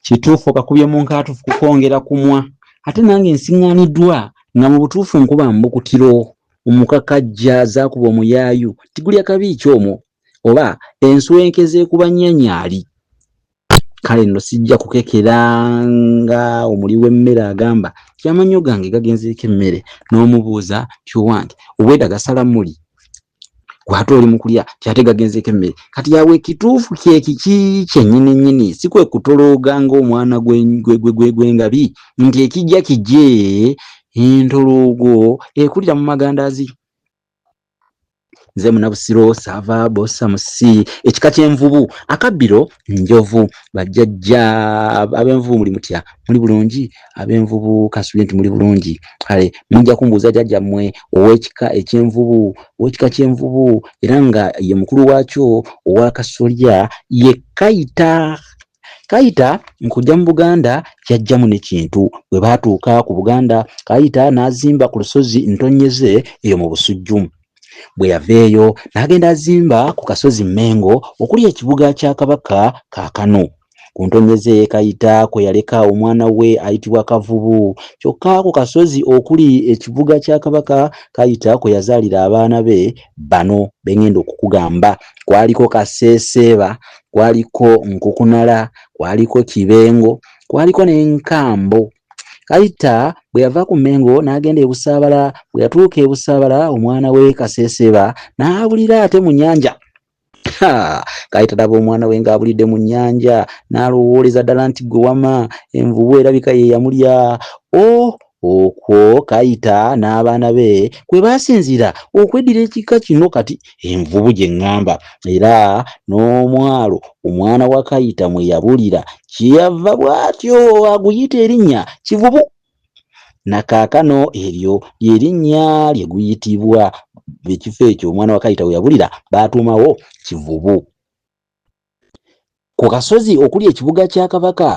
kituufu okakubye mu nkaatuufu kukwongera kumwa ate nange nsiŋŋaaniddwa nga mu butuufu nkuba mbukutiro omukakajja zaakuba omuyaayu tigulya kabi ki omwo oba enswenke zeekuba nnyanyali kale nno sijja kukekera nga omuli w'emmere agamba ti amannyo gange gagenzeeko emmere n'omubuuza ti owange obweda gasala muli gwate oli mukulya kyate gagenzeeko emmere kati yawe ekituufu kyekiki kyenyini nyini si kwe kutolooga ng'omwana gwengabi nti ekijja kije entoloogo ekulira mu magandazi nze munabusiro sava bosa musi ekika kyenvubu akabbiro njovu bajjajja abenvubu muli mutya muli bulungi abenvubu kasubi nti muli bulungi kale mujja kumbuuza jajja mmwe ow'ekika ekyenvubu ow'ekika kyenvubu era nga ye mukulu waakyo owa kasolya ye kayita kayita nkujja mu buganda yajjamu nekintu bwe baatuuka ku buganda kayita n'azimba ku lusozi ntonyeze eyo mu busujju bwe yava eyo n'agenda azimba ku kasozi Mmengo okuli ekibuga kya Kabaka kaakano. Ku ntonye ze Kayita kwe yaleka omwana we ayitibwa Kavubu. Kyokka ku kasozi okuli ekibuga kya Kabaka Kayita kwe yazaalira abaana be bano be ngenda okukugamba. Kwaliko Kaseeseeba, kwaliko Nkukunala, kwaliko Kibengo, kwaliko ne Nkambo. Kayita bwe yava ku Mengo n'agenda e Busaabala. Bwe yatuuka e Busaabala omwana we Kaseeseeba n'abulira ate mu nnyanja. Kayita laba omwana we ng'abulidde mu nnyanja n'alowooleza ddala nti gwe wama envubu erabika ye yamulya. O oh, okwo Kayita n'abaana be kwe baasinziira okweddira ekika kino kati envubu gye ŋŋamba era n'omwalo omwana wa Kayita mwe yabulira kyeyava bw'atyo aguyita erinnya Kivubu. Na kaakano eryo lye linnya lye guyitibwa, ekifo ekyo omwana wa Kayita we yabulira baatuumawo Kivubu. Ku kasozi okuli ekibuga kya Kabaka,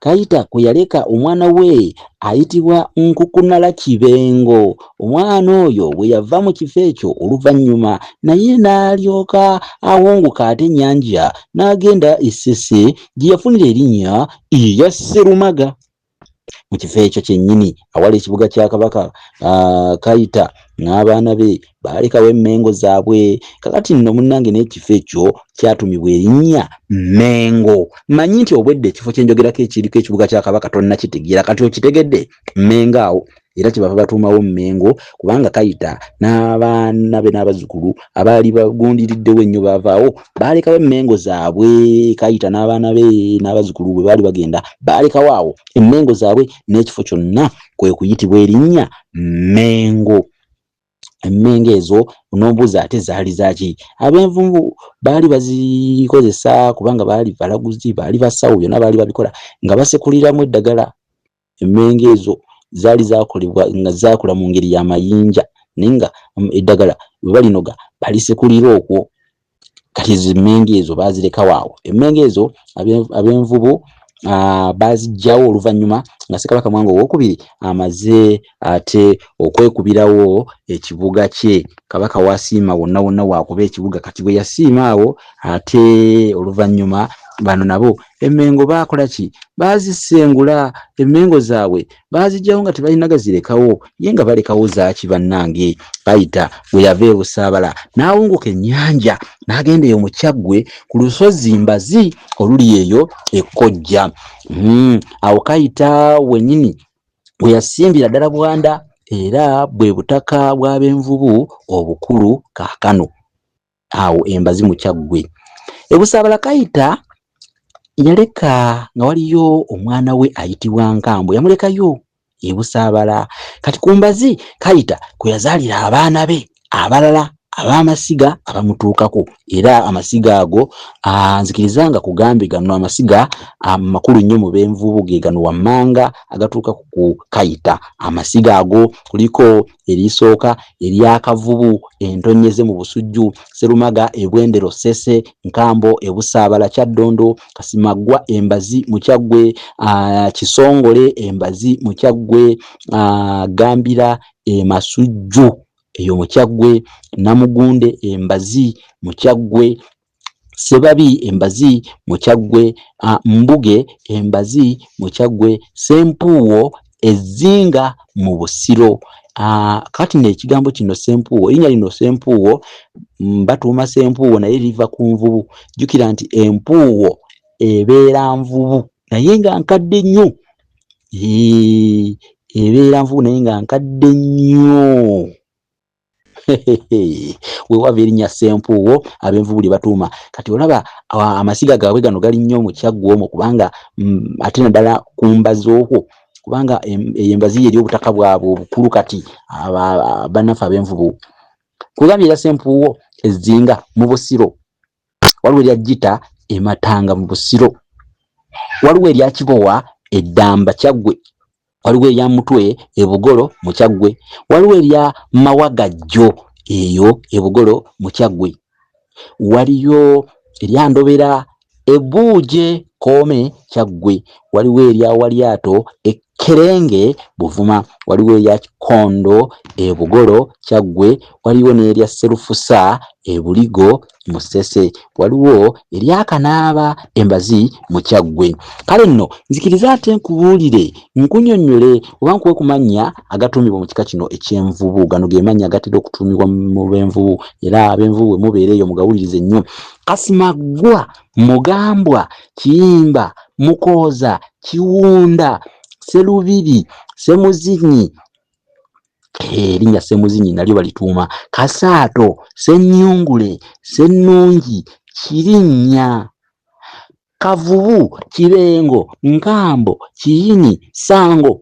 Kayita kwe yaleka omwana we ayitibwa Nkukunala Kibengo. Omwana oyo bwe yava mu kifo ekyo oluvannyuma naye n'alyoka awunguka ate ennyanja n'agenda e Ssese gye yafunira erinnya erya Sserumaga. mu kifo ekyo kyennyini awali ekibuga kya kabaka kayita n'abaana be baalekawo emmengo zaabwe kakati nno munnange n'ekifo ekyo kyatumibwa erinnya mmengo manyi nti obwedda ekifo kyenjogerako ekiriko ekibuga kya kabaka tonnakitegeera kati okitegedde mmengo awo era kyebava batuumawo Mmengo kubanga Kayita n'abaana be n'abazzukulu abaali bagundiriddewo ennyo baavaawo baalekawo emmengo zaabwe Kayita n'abaana be n'abazzukulu bwe baali bagenda baalekawo awo emmengo zaabwe n'ekifo kyonna kwe kuyitibwa erinnya Mmengo emmengo ezo n'ombuuza ate zaali zaaki ab'envumbu baali bazikozesa kubanga baali balaguzi baali basawo byonna baali babikola nga basekuliramu eddagala emmengo ezo zaali zaakolebwa nga zaakula mu ngeri ya mayinja naye nga mm, eddagala bwe balinoga balisekulira okwo kati ezo emmengo ezo baazirekawo awo emmengo ezo ab'envubu baazijjawo oluvannyuma nga ssekabaka mwanga owokubiri amaze ate okwekubirawo ekibuga kye kabaka wasiima wonna wonna wakuba ekibuga kati bwe yasiima awo ate oluvannyuma bano nabo emengo baakola ki baazisengula emengo zaabwe baazijjawo nga tebalina gazirekawo ye nga balekawo zaaki bannange bayita bwe yava ebusaabala n'awunguka ennyanja n'agenda eyo mu kyaggwe ku lusozi mbazi oluli eyo ekkojja hmm, awo kayita wenyini we yasimbira ddala Bwanda era bwe butaka bw'abenvubu obukulu kaakano awo embazi mu Kyaggwe. E Busaabala Kayita yaleka nga waliyo omwana we ayitibwa Nkambo yamulekayo e Busaabala kati ku mbazi Kayita kwe yazaalira abaana be abalala ab'amasiga abamutuukako era amasiga ago nzikiriza nga kugambye gano amasiga amakulu nnyo mu b'envubu ge gano wammanga agatuuka ku kukayita amasiga ago kuliko erisooka eryakavubu entonyeze mu busujju serumaga ebwendero sese nkambo ebusaabala kyaddondo kasimaggwa embazi mu kyaggwe kisongole embazi mu kyaggwe gambira e Masujju eyo mu Kyaggwe, Namugunde e Mbazi mu Kyaggwe, Ssebabi e Mbazi mu Kyaggwe, Mbuge e Mbazi mu Kyaggwe, Ssempuuwo e Zzinga mu Busiro. Ah, kati nekigambo kino sempuuwo erinya lino sempuuwo mm, batuuma sempuuwo naye liva ku nvubu jukira nti empuuwo ebeera nvubu naye nga nkadde nnyo ebeera nvubu naye nga nkadde nnyo wewava erinnya sempuuwo abenvubu lyebatuuma kati olaba amasiga gaabwe gano gali nnyo mukyaggwa omwo kubanga mm, ate naddala ku mbazi okwo kubanga eyo embazi ye eri obutaka bwabwe obukulu kati bannaffe abenvubu kugambye era sempuuwo ezzinga mu busiro waliwo erya jita ematanga mu busiro waliwo erya kibowa eddamba kyaggwe waliwo erya mutwe ebugolo mu kyaggwe waliwo erya mawagajjo eyo ebugolo mu kyaggwe waliyo erya ndobera ebuuje koome kyaggwe waliwo erya walyato e Kerenge, Buvuma, waliwo erya Kikondo e Bugolo, Kyaggwe, waliwo n'erya Sserufusa e Buligo, Musese, waliwo erya Kanaaba e Mbazi mu Kyaggwe. Kale nno nzikirize ate nkubuulire, nkunyonnyole oba nkuwe ku mannya agatuumibwa mu kika kino eky'envubu. Gano ge mannya agatera okutuumibwa mu b'envubu era ab'envubu bwe mubeera eyo mugawulirize nnyo. Kasimaggwa. Mugambwa, Kiyimba, Mukooza, Kiwunda, Sserubiri, Ssemuzinyi, erinnya Ssemuzinyi nalyo balituuma Kasaato, Ssennyungule, Ssennungi, Kirinnya, Kavubu, Kibengo, Nkambo, Kiyini, Ssango,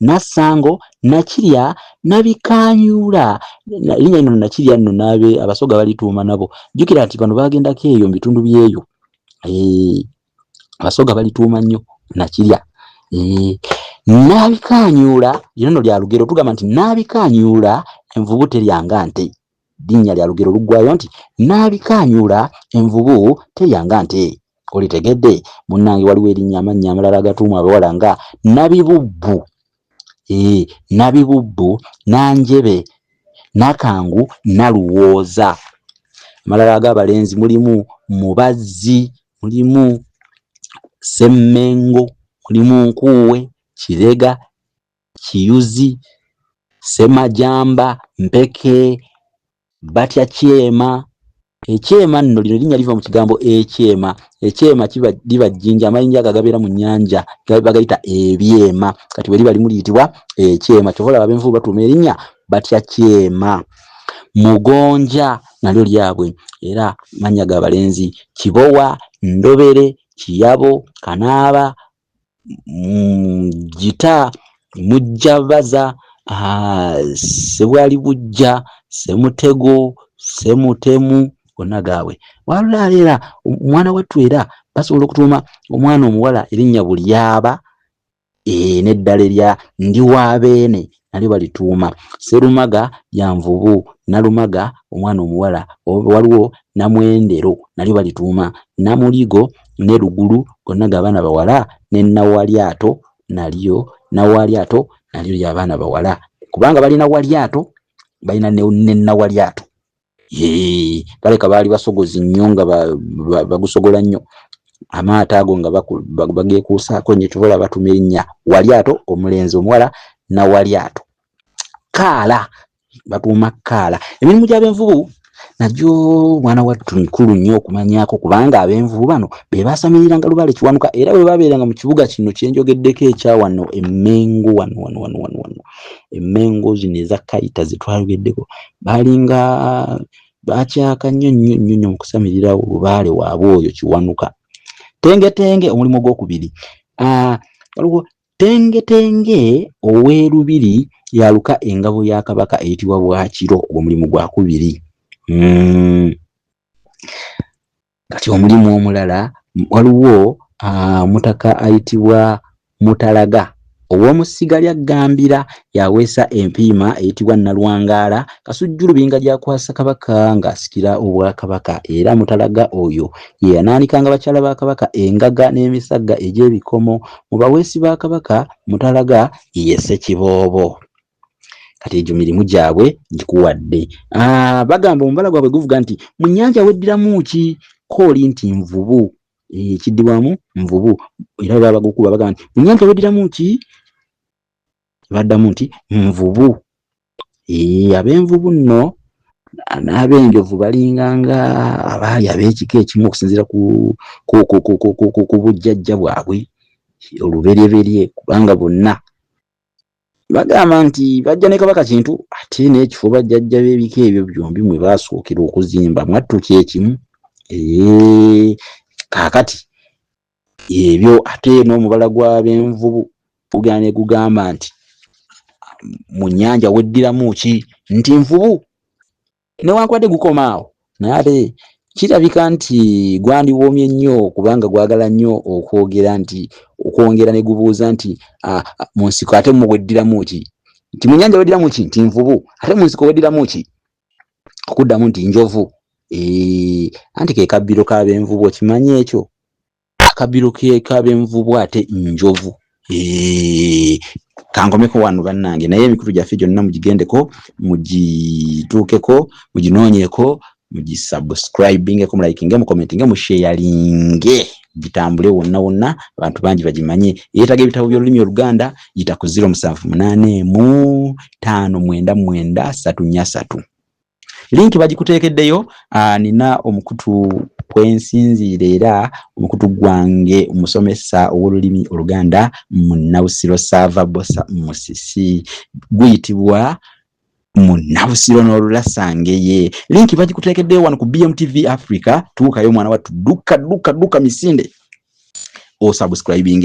Nassango, Nakirya, Nabikaanyuula, linnya lino Nakirya nno n'abe Abasoga balituuma nabo. Jjukira nti bano baagendako eyo mu bitundu by'eyo. Abasoga balituuma nnyo Nakirya. Nabikaanyuula, lino nno lya lugero tugamba nti Nabikaanyuula envubu terya nga nte. Linnya lya lugero luggwayo nti Nnaalikaanyuula envubu terya nga nte. Olitegedde? Munnange waliwo erinnya amannya amalala agatuumwa abawala nga Nabibubbu, ee, Nabibubbu, Nanjebe, Nakangu, Naluwooza. Amalala ag'abalenzi mulimu Mubazzi, mulimu Ssemmengo, mulimu Nkuuwe, Kirega, Kiyuzi, Semajamba, Mpeke, batya Kyema. Ekyema nno lino linnya liva mu kigambo ekyema. Ekyema kiba liba jjinja amayinja ago agabeera mu nnyanja bagayita ebyema. Kati bwe liba limu liyitibwa ekyema. Kyova olaba ab'envubu batuuma erinnya batya Kyema. Mugonja nalyo lyabwe era mannya ga balenzi. Kibowa, Ndobere, Kiyabo, Kanaaba, mugita mm, mujja baza ah, sebwali bujja semutego semutemu gonna gaabwe walulaala era omwana wattu era basobola okutuuma omwana omuwala erinnya bulyaba e, n'eddala erya ndi wa beene nalyo balituuma Serumaga ya nvubu, Nalumaga omwana omuwala, waliwo Namwendero nalyo balituuma Namuligo ne Lugulu gonna ga baana bawala ne Nawalyato nalyo Nawalyato nalyo lya baana bawala kubanga balina Walyato balina ne Nawalyato. baleka baali basogozi nnyo nga bagusogola nnyo amaato ago nga bageekuusaako nyo kyobola batuma erinnya walyato omulenzi omuwala nawalyato kaala batuuma kaala emirimu gy'abenvubu nagyo mwana wattu mikulu nnyo okumanyako kubanga abenvubu bano be baasamiriranga lubaale kiwanuka era bwe babeeranga mu kibuga kino kyenjogeddeko ekyawano emmengo wano wano wano wano wano emmengo zino eza kayita zetwayogeddeko balinga bakyaka nnyo nnyo nnyo nnyo mukusamirira lubaale waabwe oyo kiwanuka tengetenge omulimu ogwokubiri ah, waliwo tengetenge ow'erubiri yaluka engabo ya kabaka eyitibwa bwakiro ogwo mulimu gwakubiri hmm. kati omulimu omulala waliwo omutaka ayitibwa mutalaga ow'omu ssiga lya ggambira yaweesa empiima eyitibwa nalwangaala kasujjulu binga gyakwasa kabaka ng'asikira obwakabaka era mutalaga oyo ye yanaanikanga bakyala ba kabaka engaga n'emisagga egy'ebikomo mu baweesi ba kabaka mutalaga ye ssekiboobo kati egyo mirimu gyabwe gikuwadde ah, bagamba omubala gwabwe guvuga nti mu nyanja weddiramu ki kooli nti nvubu ekiddibwamu eh, nvubu era baba bagukuba bagamba nti mu nyanja weddiramu ki baddamu nti nvubu eh, ab'envubu nno n'abenjovu balinga nga abaali ab'ekika ekimu okusinziira ku bujjajja bwabwe oluberyeberye kubanga bonna bagamba nti bajja ne kabaka kintu ate n'ekifo bajjajja b'ebika ebyo byombi mwe baasookera okuzimba mwattu kyekimu kaakati ebyo ate n'omubala gw'abenvubu gugera ne gugamba nti mu nnyanja weddiramu ki nti nvubu newankubadde gukoma awo naye ate kirabika nti gwandiwoomye nnyo kubanga gwagala nnyo okwogera nti okwongera ne gubuuza nti ah, ah, mu nsiko ate mu weddiramu ki nti mu nyanja weddiramu ki nti nvubu ate mu nsiko weddiramu ki okuddamu nti njovu anti ke kabbiro k'abenvubu okimanyi ekyo akabiro kekabenvu bwate njovu kankomeko wano bannange naye emikutu gyaffe gyonna mugigendeko mugituukeko muginoonyeko mugisubscribingeko mulayikinge mukomentinge musheyalinge gitambule wonna wonna abantu bangi bagimanye eyeetaga ebitabo by'olulimi oluganda yita ku ziro musanvu munaana emu taano mwenda mwenda satu nya satu link bagikuteekeddeyo ah, nina omukutu kwensinziira era omukutu gwange omusomesa ow'olulimi oluganda munabusiro saava bosa musisi guyitibwa munabusiro n'olulasangeye linki bagikuteekeddeyo wano ku bmtv africa tuukayo omwana wattu dukka dukka dukka misinde osubscribing